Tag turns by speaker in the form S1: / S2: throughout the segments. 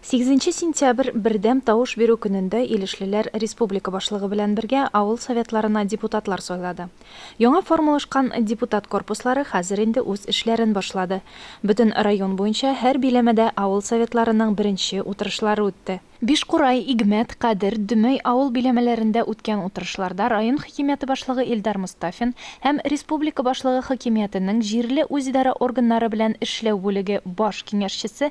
S1: Сигезенче сентябрь бердәм тавыш бирү көнендә илешлеләр республика башлыгы белән бергә авыл Советларына депутатлар сайлады. Яңа формалашкан депутат корпуслары хәзер инде үз эшләрен башлады. Бөтен район буенча һәр биләмәдә авыл Советларының беренче утырышлары үтте. Бишкурай, Игмәт, Кадер, Дөмәй авыл биләмәләрендә үткән утырышларда район хакимияте башлыгы Илдар Мостафин һәм республика башлыгы хакимиятенең җирле үзидарә органнары белән эшләү бүлеге баш киңәшчесе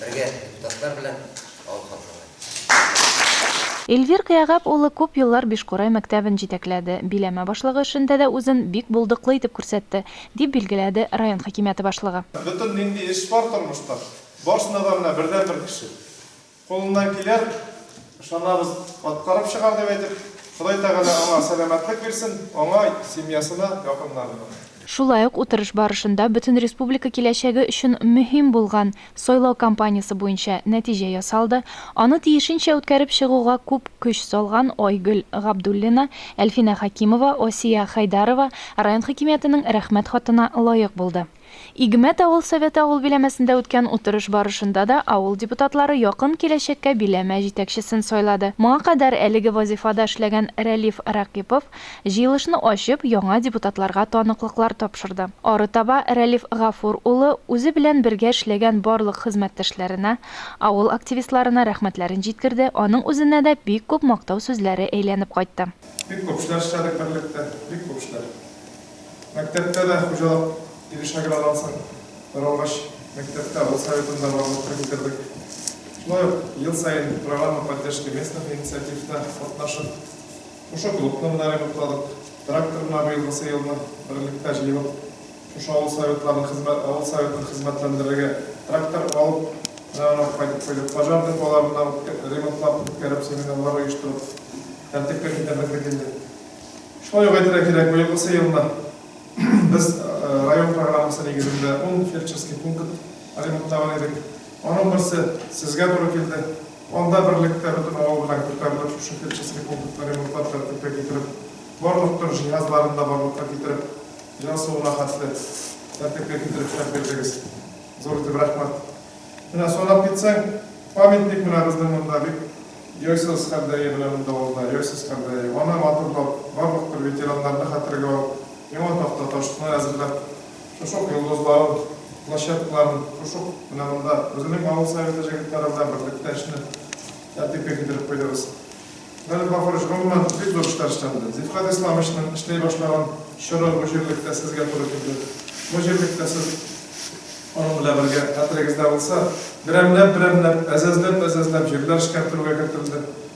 S2: Бергә депутатлар белән алып катлаулыйк.
S1: Эльвир Кыягап улы күп еллар Бишкурай мәктәбен җитәкләде, биләмә башлыгы эшендә дә үзен бик булдыклы итеп күрсәтте, дип билгеләде район хакимияте башлыгы. Бөтен нинди эш
S3: бар тормышта, барсына да менә бердәнбер кеше кулыннан килер, ышанабыз, аткарып чыгар, дип әйтеп, Ходай Тәгалә аңа сәламәтлек бирсен, аңа, семьясына, якыннарына. Шулай ук
S1: утырыш барышында бөтен республика киләчәге өчен мөһим булган сайлау кампаниясе буенча нәтиҗә ясалды, аны тиешенчә үткәреп чыгуга күп көч салган Айгөл Габдуллина, Әлфинә Хәкимова, Асия Хәйдарова район хакимиятенең Рәхмәт хатына лаек булды. Игмәт авыл Советы авыл биләмәсендә үткән утырыш барышында да авыл депутатлары якын киләчәккә биләмә җитәкчесен сайлады. Моңа кадәр әлеге вазифада эшләгән Рәлиф Ракыйпов Җыелышны ачып, яңа депутатларга таныклыклар тапшырды. Арытаба Рәлиф Гафур улы үзе белән бергә эшләгән барлык хезмәттәшләренә, авыл активистларына рәхмәтләрен җиткерде, аның үзенә дә бик күп мактау сүзләре әйләнеп кайтты. Бик күп эшләр
S3: эшләдек берлектә, бик күп эшләр. Мәктәптә дә хуҗалык өлеше агралансын, таралгач, мәктәптә авыл советында барлык кергетердек. Шулай ук ел саен программа поддержки местных инициативта катнашып, Шушы клубны гына ремонтладык. Трактор гына быелгысы елны берлектә җыелып, шушы авыл советларын хезмәт, авыл советын хезмәтләндерергә трактор алып, менә аны кайтып куйдык. Пожар деполарына ремонтлап үткәреп, семинарлар оештырып, тәртипкә китердек бит инде. Шулай ук әйтергә кирәк, быелгысы елны без район программасы нигезендә ун фельдшерский пункт ремонтлаган идек. Аның берсе сезгә туры килде. Анда берлектә бөтен авыл белән күтәрелеп шушы фельдшерский пунктны ремонтлап тәртипкә китереп, барлык төр җиһазларын да барлыкка китереп, җан суына хәтле тәртипкә китереп эшләп бирдегез. Зур итеп рәхмәт. Менә санап китсәң, памятник менә безнең монда бик яйсыз хәлдәге менә монда алда, яйсыз хәлдәге. Аны матурлап, барлык төр ветераннарны хәтергә алып, яңа такта ташны әзерләп, Кушук йолдызларын, площадкаларын Кушук менә монда үзенең авыл советы җегетләре белән берлектә эшне тәртипкә китереп куйдыгыз. Менә Баһурыч, гомумән, бик зур эшләр эшләнде. Зифхат Исламовичның эшли башлаган чоры бу җирлектә сезгә туры килде. Бу җирлектә сез аның белән бергә, хәтерегездә булса, берәмләп-берәмләп, әзәзләп-әзәзләп җирләр эшкәртелүгә кертелде.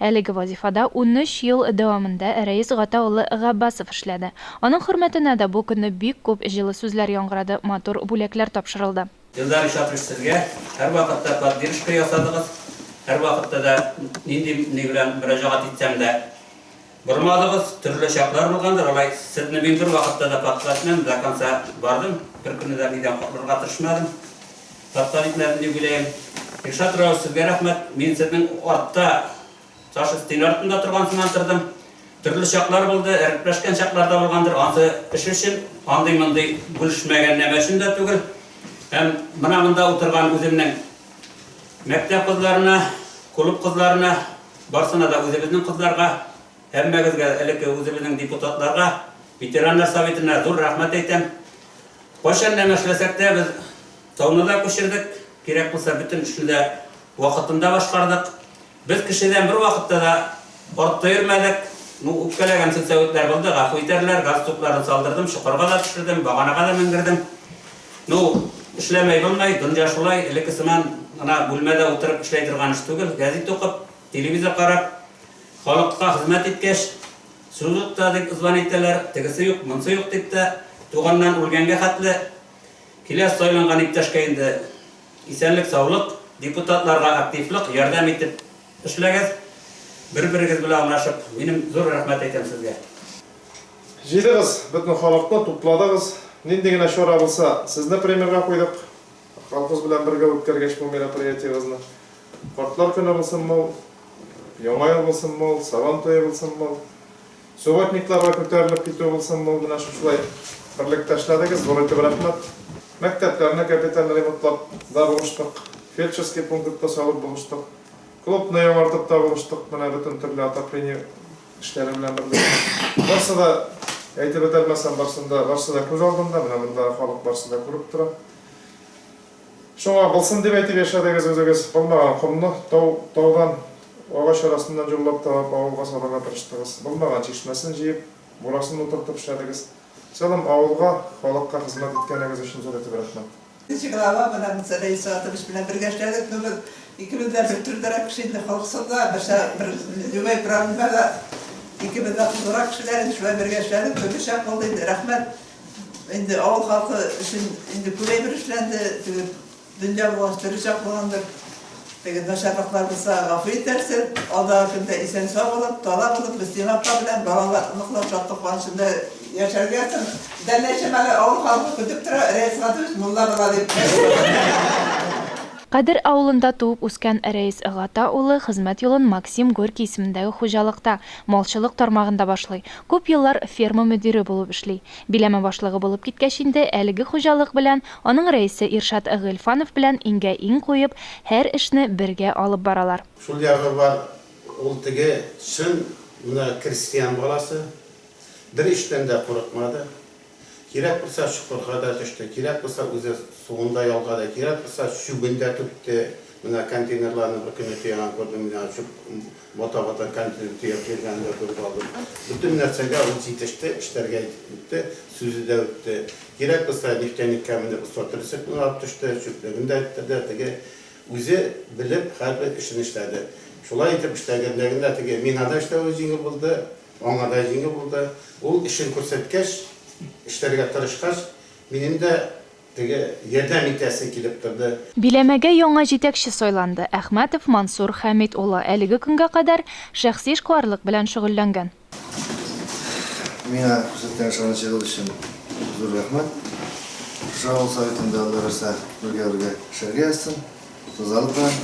S1: Әлеге вазифада унөч ел дәвамында Рәис Гата улы Габбасов эшләде. Аның хөрмәтенә дә бу көнне бик күп җылы сүзләр яңгырады, матур бүләкләр тапшырылды. Илдар Исакович,
S4: сезгә һәрвакытта поддержка ясадыгыз, һәрвакытта да нинди ни белән мөрәҗәгать итсәм дә, Бормадыгыз, төрле чаклар булгандыр, алай Сезне мин бер вакытта да подкал итмәдем, до конца бардым, бер көнне дә нидән котлырга тырышмадым, подкал итмәдем дип уйлыйм. Илшат Раус, Сезгә рәхмәт, мин Сезнең артта, Саша Стиль артында торган сыман тордым, төрле чаклар булды, әрпләшкән чаклар да булгандыр, ансы эш өчен, андый-мондый бүлешмәгән нәмә өчен дә түгел, һәм менә монда утырган үземнең мәктәп кызларына, клуб кызларына, Барсына да үзебезнең кызларга, һәммәгезгә, элекке үзебезнең депутатларга, ветераннар советына зур рәхмәт әйтәм. Кайчан нәмә эшләсәк тә, без тауны да күчердек, кирәк булса бөтен эшне дә вакытында башкардык. Без кешедән бервакытта да артта йөрмәдек. Ну, үпкәләгән сүнсәветләр булды, гафу итәрләр, газ тупларын салдырдым, чокырга да төшердем, баганага да менгердем. Ну, эшләмәй булмый, дөнья шулай, элекке сыман гына бүлмәдә утырып эшләй торган эш түгел, гәзит укып, телевизор карап, халыкка хезмәт иткәч, службада дип зван итәләр, тегесе юк, монысы юк дип тә, туганнан үлгәнгә хәтле килә сайланган иптәшкә инде исәнлек-саулык, депутатларга активлык, ярдәм итеп Эшләгез, бер-берегез белән анашып. Минем зур рәхмәт әйтәм сезгә.
S3: Җыйдыгыз бөтен халыкны, тупладыгыз. Нинди генә чара булса, сезне премьерга куйдык. Халкыбыз белән бергә үткәргәч бу мероприятиебезне. Картлар көне булсынмы ул, Яңа ел булсынмы ул, Сабан туе булсынмы ул. Субботникларга күтәрелеп китү булсын бу, менә шушылай берлектә эшләдегез, зур итеп рәхмәт. Мәктәпләрне капиталь ремонтлап да булыштык, фельдшерский пунктны салып булыштык, клубны яңартып та булыштык, менә бөтен төрле отопление эшләре белән берлектә. Барсы да, әйтеп бетәрмәсәм, барсын да, барсы да күз алдында, менә мондагы халык барсы да күреп тора. Шуңа булсын дип әйтеп яшәдегез үзегез, булмаган комны тау, таудан, агач арасыннан җоллап табып, авылга салырга тырыштыгыз, булмаган чишмәсен җыеп, бурасын утыртып эшләдегез. Целом авылга, халыкка хезмәт иткәнегез өчен зур итеп рәхмәт. Нче глава белән
S5: Сәләй Исоатович белән бергә эшләдек, ну без икебез дә бер төрдерәк кеше инде, халык сында, берсә, бер, любой проблемада икебез дә кызурак кешеләр иде, шулай бергә эшләдек, төрлечә булды инде, рәхмәт. инде авыл халкы өчен инде күбәйбер эшләнде, теге дөнья булгач тере чак булгандыр. Теге начарлыклар булса гафу итәрсез, алдагы көндә исән сау булып, тала булып, Мөслим апа белән балалар, оныклар шатлык куанычында яшәргә сон. Дәләшем әле авыл халкы көтеп тора, Рәис Гатович мулла була дип.
S1: Кадер авылында туып үскән Рәис Гата улы хезмәт юлын Максим Горький исемендәге хуҗалыкта, малчылык тармагында башлый. Күп еллар ферма мөдире булып эшли. Биләмә башлыгы булып киткәч инде, әлеге хуҗалык белән, аның рәисе Иршат Гыйльфанов белән иңгә-иң куеп, һәр эшне бергә алып баралар. Шул ягы бар,
S6: ул теге чын гына крестьян баласы, бер эштән дә курыкмады. Кирәк булса, чокырга да төште, кирәк булса, үзе суын да ялгады, кирәк булса, чүбен дә түкте. Менә контейнерларны бер көнне төягән күрдем мин аны, чүп Вата-вата кәнтне төяп йөргәне дә кузгалды. Бөтен нәрсәгә ул җитеште, эшләргә үтте, сүзе дә үтте. Кирәк булса, нефтяникка менеп остроты рецептын алып төште, чүплеген дә эттерде, теге үзе белеп һәрбер эшен эшләде. Шулай итеп эшләгәнлегендә теге миңа да эшләве җиңел булды, аңа да җиңел булды. Ул эшен күрсәткәч, эшләргә тырышкач, минем дә Теге ярдәм итәсе килеп торды. Биләмәгә яңа
S1: җитәкче сайланды. Әхмәтов Мансур Хәмит улы әлеге көнгә кадәр шәхси эшкуарлык белән шөгыльләнгән. Миңа
S7: күрсәткән ышанычыгыз өчен зур рәхмәт. Шушы авыл советында Алла бирса бергә-бергә эшләргә язсын. Ризалык белән.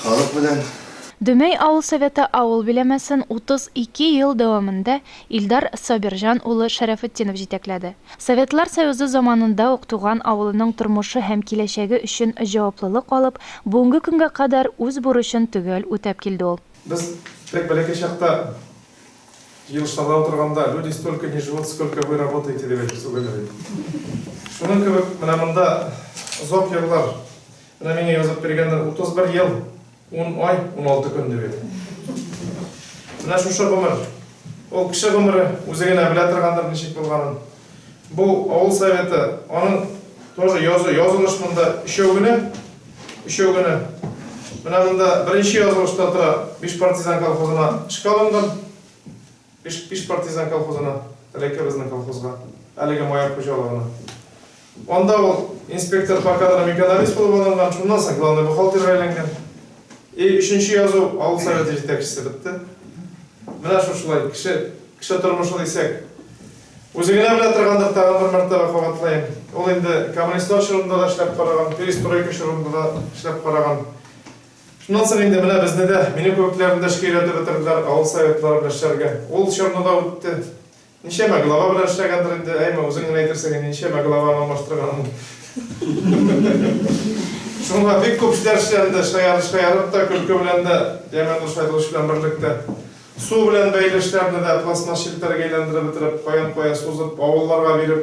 S7: Халык белән. Дөмәй авыл
S1: советы авыл биләмәсен 32 ел дәвамында Илдар Сабирҗан улы Шәрәфетдинов җитәкләде. Советлар Союзы заманында ук туган авылының тормышы һәм киләчәге өчен җаваплылык алып, бүгенге көнгә кадәр үз бурычын төгәл үтәп килде ул. Без бик
S3: бәләкәй чакта, җыелышларда утырганда, Люди столько не живут, сколько вы работаете, дип әйтеп сүгәләр иде. Шуның кебек, менә монда озак еллар, менә миңа язып биргәннәр, 31 ел. Ун ай, уналты көн ди бит. Менә шушы гомер. Ул кеше гомере үзе генә белә торгандыр ничек булганын. Бу авыл советы, аның тоже язу, язылыш монда өчәү генә. Өчәү генә. Менә монда беренче язылышта тора, Биш партизан колхозына эшкә алынган. Биш, биш партизан колхозына, Әләкебезнең колхозга, әлеге Маяк хуҗалыгына. Анда ул инспектор по кадрам экономист булып алынган, шуннан соң главный бухгалтерга әйләнгән. И өченче язу авыл советы җитәкчесе бетте. Менә шушылай, кеше, кеше тормышы дисәк. Үзе генә белә торгандыр, тагын бер мәртәбә кабатлаем. Ул инде коммунистлар чорында да эшләп караган, перестройка чорында да эшләп караган. Шуннан соң инде менә безне дә, мине кебекләрне дә эшкә өйрәтеп бетерделәр, авыл советлары белән эшләргә. Ул чорны да үтте. Ничәмә глава белән эшләгәндер инде, әйме, үзең генә әйтерсең инде, ничәмә главаны алмаштырганын. Шуңа бик күп эшләр эшләнде, шаярып-шаярып та, көлке белән дә, яме дус айдыгыч белән берлектә. Су белән бәйле эшләрне дә пластмасс челтәргә әйләндереп бетереп, каян-кая сузып, авылларга биреп.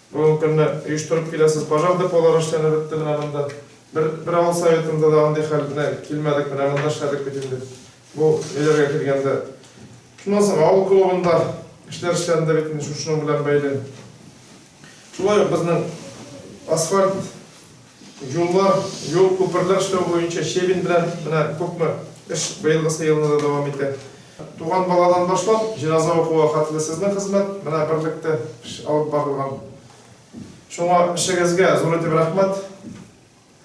S3: Бүгенге көнне оештырып киләсез. Пожар деполары эшләнеп бетте менә монда. Бер, бер авыл советында да андый хәл белән килмәдек, менә монда эшләдек бит инде. Бу ниләргә килгәндә. Шуннан соң авыл клубында эшләр эшләнде бит инде шушының белән бәйле. Шулай ук безнең асфальт Юллар, юл, күперләр эшләү буенча Щебень белән менә күпме эш быелгысы елны да дәвам итә. Туган баладан башлап, җеназа укуга хәтле сезнең хезмәт менә берлектә алып барылган. Шуңа эшегезгә зур итеп рәхмәт,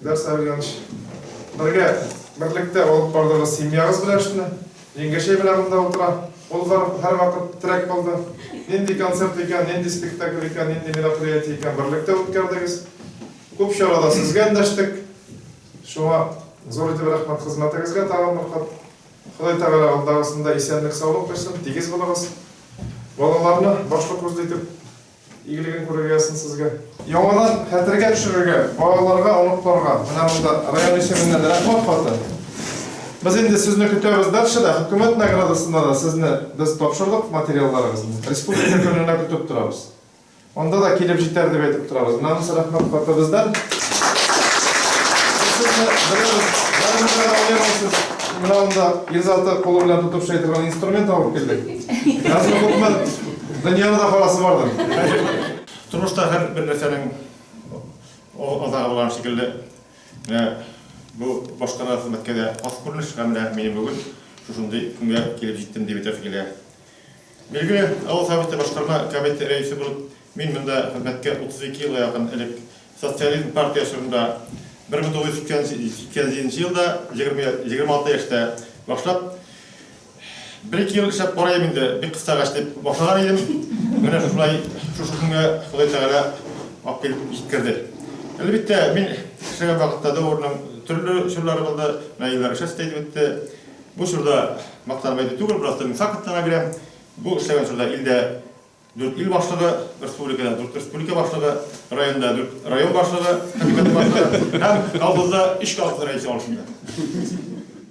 S3: Илдар Сәвильянович. Бергә, берлектә алып бардыгыз семьягыз белән эшне. Җиңгәчәй белән монда утыра. Ул һәрвакыт терәк булды. Нинди концерт икән, нинди спектакль икән, нинди мероприятие икән, берлектә үткәрдегез. Күп чарада сезгә эндәштек. Шуңа зур итеп рәхмәт хезмәтегезгә тагын бер кат. Ходай Тәгалә алдагысында исәнлек-саулык бирсен, тигез булыгыз. Балаларны башлы-күзле итеп Игелеген күрергә язсын сезгә. Яңадан хәтергә төшерергә, балаларга, оныкларга. Менә монда район исеменнән рәхмәт хаты. Без инде сезне көтәбез дальше да, хөкүмәт наградасында да сезне без тапшырдык материалларыгызны. Республика көненә көтеп торабыз. Анда да килеп җитәр дип әйтеп торабыз. Менә монысы рәхмәт хаты бездән. Менә монда Илзаты кулы белән тотып шайтырган инструмент алып килдек. Язмы күпме Дөньяны да карасы бардыр. Тормышта һәр
S8: бер нәрсәнең азагы булган шикелле, менә бу башкара хезмәткә дә хас күренеш һәм менә мин бүген шушындый көнгә килеп җиттем дип әйтәсе килә. Билгеле, авыл советы башкарма комитеты рәисе булып мин монда хезмәткә 32 елга якын элек социализм партия чорында 1987 елда 20, 26 яшьтә башлап Бер-ике ел эшләп карыйм инде, бик кыстагач дип башлаган идем. Менә шулай шушы көнгә Ходай Тәгалә алып килеп җиткерде. Әлбәттә, мин эшләгән вакытта дәвернең төрле чорлары булды, менә еллар эшләсез әйтеп үтте. Бу чорда мактанып әйтү түгел, просто мин фактларны гына бирәм. Бу эшләгән чорда илдә Дүрт ил башлыгы, республикада дүрт республика башлыгы, районда дүрт район башлыгы, комитет башлыгы һәм колхозда өч колхоз рәисе алышында.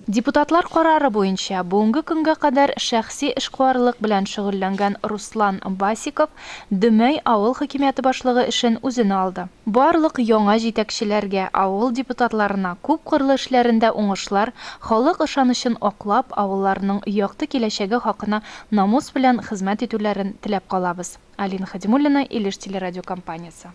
S1: Депутатлар карары буенча, бүгенге көнгә кадәр шәхси эшкуарлык белән шөгыльләнгән Руслан Басиков Дөмәй авыл хакимияте башлыгы эшен үзенә алды. Барлык яңа җитәкчеләргә, авыл депутатларына күпкырлы эшләрендә уңышлар, халык ышанычын аклап, авылларының якты киләчәге хакына Намус белән хезмәт итүләрен теләп калабыз. Алина Хәдимуллина, Илеш телерадиокомпаниясе.